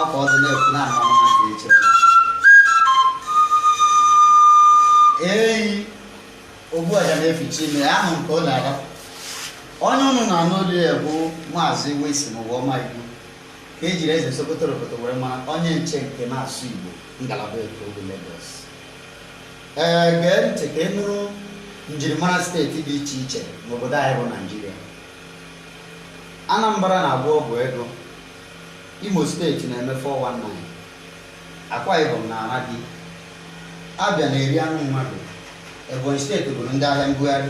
ọkwa ọdụ na-ekwu na ama ha ka eche eyi ogbu ọja na-eficha imi ya ahụ nke ọ na-ara onye ụnụ na-anụ olu ya bụ maazị Wilson Uwaoma Igbo ka ejiri eze Sokoto Roboto were mara onye nche nke na-asụ Igbo ngalaba Eko Lagos ee gee ntị ka ị nụrụ njirimara steeti dị iche iche n'obodo anyị bụ Naijiria Anambra na-agwọ ọgwụ ego, Imo steeti na-eme 419, Akwa Ibom na-ara di, Abịa na-eri anụ mmadụ, Ebonyi steeti bụrụ ndị ahịa mbugharị,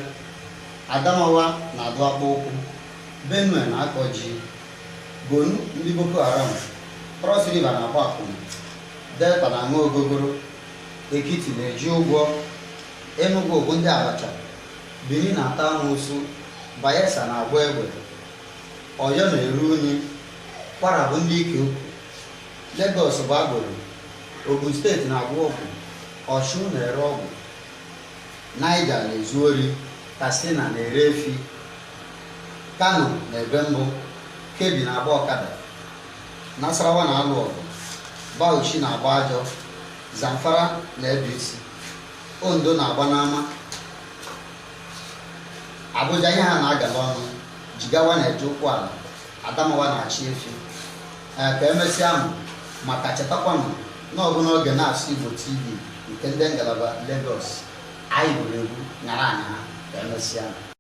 Adamawa na-adụ akpa ụkwụ, Benue na-akọ ji, Borno ndị Boko Haram, Cross River na-agba akwụna, Delta na-aṅụ ogogoro, Ekiti na-eji ụgwọ, Enugu bụ ndị Abacha Benin na-ata amoosu, Bayelsa na-agba egbe, Oyo na-eru unyi, Kwara bụ ndị ike ukwu, Legọs bụ agboro, Ogun steeti na-agwọ ọgwụ, Ọshun na-ere ọgwụ, Niger na-ezu ori, Katsina na-ere efi, Kano na-ebe mbọ, Kebbi na-agba ọkada, Nasarawa na-alụ ọgụ, Bauchi na-agba ajọ, Zamfara na-ebe isi. Ondo na-agba n'ama Abuja ihe ha na-agala ọnụ Jigawa na-eje ụkwụ ala Adamawa na-achị efi ee ka emesịa nụ maka chetakwanụ na ọ bụ n'oge na-asụ Igbo TV nke ndị ngalaba Lagos anyị gwuru egwu nyara anya ha ka emesịa